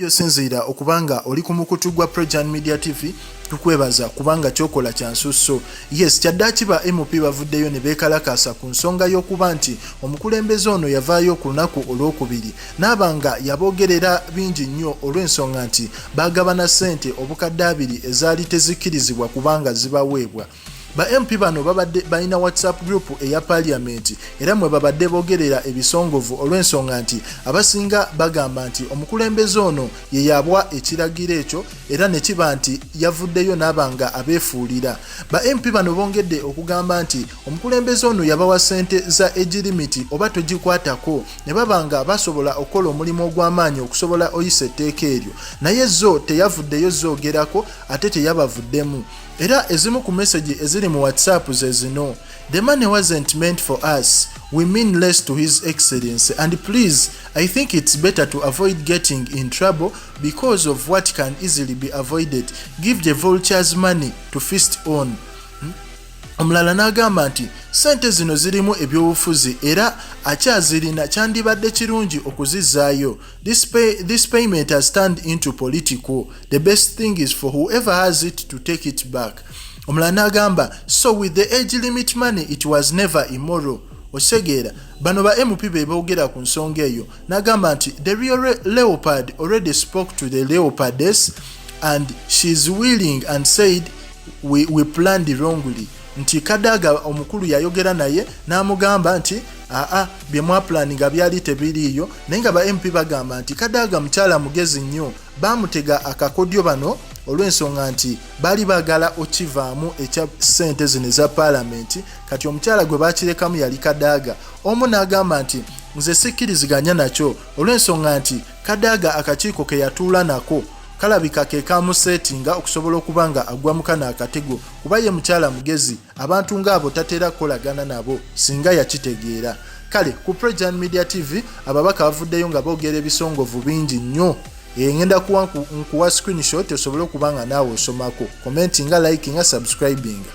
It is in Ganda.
osinziira okuba nga oli ku mukutu gwa Projan Media TV tukwebaza kubanga kyokola kya nsusso yes kyaddaaki ba mp bavuddeyo ne beekalakaasa ku nsonga y'okuba nti omukulembeze ono yavaayo ku lunaku olwokubiri n'aba nga yaboogerera bingi nnyo olw'ensonga nti baagabana ssente obukadde abiri ezaali tezikkirizibwa kubanga zibaweebwa ba mp bano babadde balina whatsapp group eya paliamenti era mwe babadde bogerera ebisongovu olw'ensonga nti abasinga bagamba nti omukulembeze ono ye yabwa ekiragiro ekyo era ne kiba nti yavuddeyo n'aba nga abeefuulira ba mp bano bongedde okugamba nti omukulembeze ono yabawa ssente za egirimiti oba togikwatako ne baba nga basobola okukola omulimu ogw'amaanyi okusobola oyisa etteeka eryo naye zo teyavuddeyo zoogerako ate teyabavuddemu era ezimu ku mesegi eziri mu whatsapp ze zino the money wasn't meant for us we mean less to his excellency and please i think it's better to avoid getting in trouble because of what can easily be avoided give the vultures money to feast on omulala n'agamba nti ssente zino zirimu ebyobufuzi era akyazirina kyandibadde kirungi okuzizzaayo this, pay, this payment has turned into political the best thing is for whoever has it to take it back omulala n'agamba so with the age limit money it was never immoral osegeera bano ba mp be boogera ku nsonga eyo n'agamba nti the real leopard already spoke to the leopardes and she is willing and said we, we planned wrongly nti kadaga omukulu yayogera naye n'amugamba nti aa bye mwaplaninga byali tebiriiyo naye nga ba mp bagamba nti kadaga mukyala mugezi nnyo bamutega akakodyo bano olw'ensonga nti baali baagala okivaamu ekya ssente zino eza paalamenti kati omukyala gwe bakirekamu yali kadaaga omu n'agamba nti nze sikkiriziganya nakyo olw'ensonga nti kadaaga akakiiko ke yatuula nako kalabika ke kamuseetinga okusobola okuba nga agwa mukana akatego kuba ye mukyala mugezi abantu ng'abo tatera kukolagana nabo singa yakitegeera kale ku prejan media tv ababaka bavuddeyo nga boogera ebisongovu bingi nnyo engenda eh, kuwa nkuwa screenshot osobole okuba nga naawe osomako commenti nga like nga subscribinga